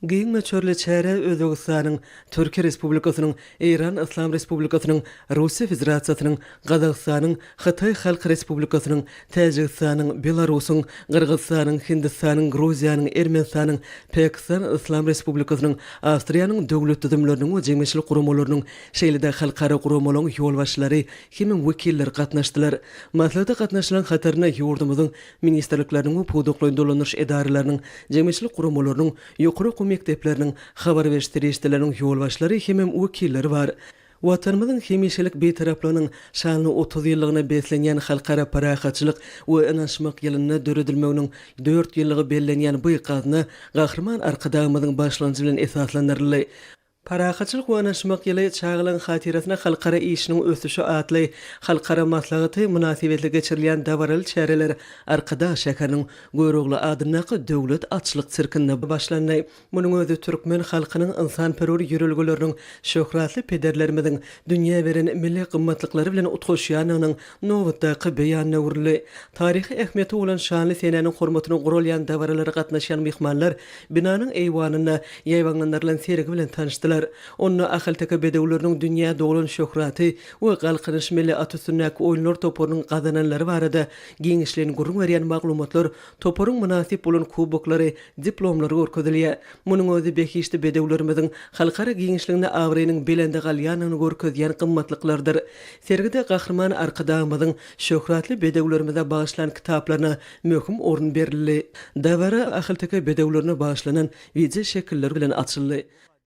Giň möçberli çäre Özbegistanyň, Türkiýe Respublikasynyň, Eýran Yslam Respublikasynyň, Russiýa Federasiýasynyň, Gazagystanyň, Hytaý Halk Respublikasynyň, Täjigistanyň, Belarusyň, Gyrgyzystanyň, Hindistanyň, Gruziýanyň, Ermenistanyň, Pakistan Yslam Respublikasynyň, Awstriýanyň döwlet düzümleriniň we jemgyýetçilik guramalarynyň, şeýle-de halkara guramalaryň ýolbaşçylary hem wekilleri gatnaşdylar. Maslahata gatnaşyjylaryň hatarynda ýurdumyzyň ministrlikleriniň we pudakly dolandyryş edaralarynyň, jemgyýetçilik guramalarynyň, ýokary okuw mekdepleriniň, habar beriş serişdeleriniň ýolbaşçylary hemem wekilleri bar. Watanymyzyň hemişelik Bitaraplygynyň şanly otuz ýyllygyna beslenýän Halkara parahatçylyk we ynanyşmak ýylynda döredilmeginiň dört ýyllygy bellenýän bu gazna Gahryman Arkadagymyzyň başlangyjy bilen esaslandyryldy. Parahatçylyk we yanaşmak ýyly çagalaryň hatyrasyna halkara işiniň ösüşi atly halkara maslahaty mynasybetli geçirilýän dabaraly çäreler Arkadag şäheriniň Görogly adyndaky Döwlet atçylyk sirkinde başlandy. Munuň özi türkmen halkynyň ynsanperwer ýörelgeleriniň, şöhratly pederlerimiziň dünýä beren milli gymmatlyklary bilen utgaşýandygynyň Nobatdaky beýan döwürli, taryhy ähmiýeti bolan şanly senäniň hormatyna guralýan dabaralara gatnaşýan myhmanlar binanyň eýwanynda ýaýbaňlandyrylan sergi bilen tanyşdylar. Onda ahalteke bedewleriniň dünýä doglan şöhraty we Galkynyş milli at üstündäki oýunlar toparynyň gazananlary barada giňişleýin gürrüň berýän maglumatlar, toparyň mynasyp bolan kuboklary, diplomlary görkezilýär. Munuň özi behişdi bedewlerimiziň halkara giňişliginde abraýynyň belende galýandygyny görkezýän gymmatlyklardyr. Sergide Gahryman Arkadagymyzyň şöhratly bedewlerimize bagyşlan kitaplaryna möhüm orun berildi. Dabara ahalteke bedewlerine bagyşlanan wideoşekiller bilen açyldy.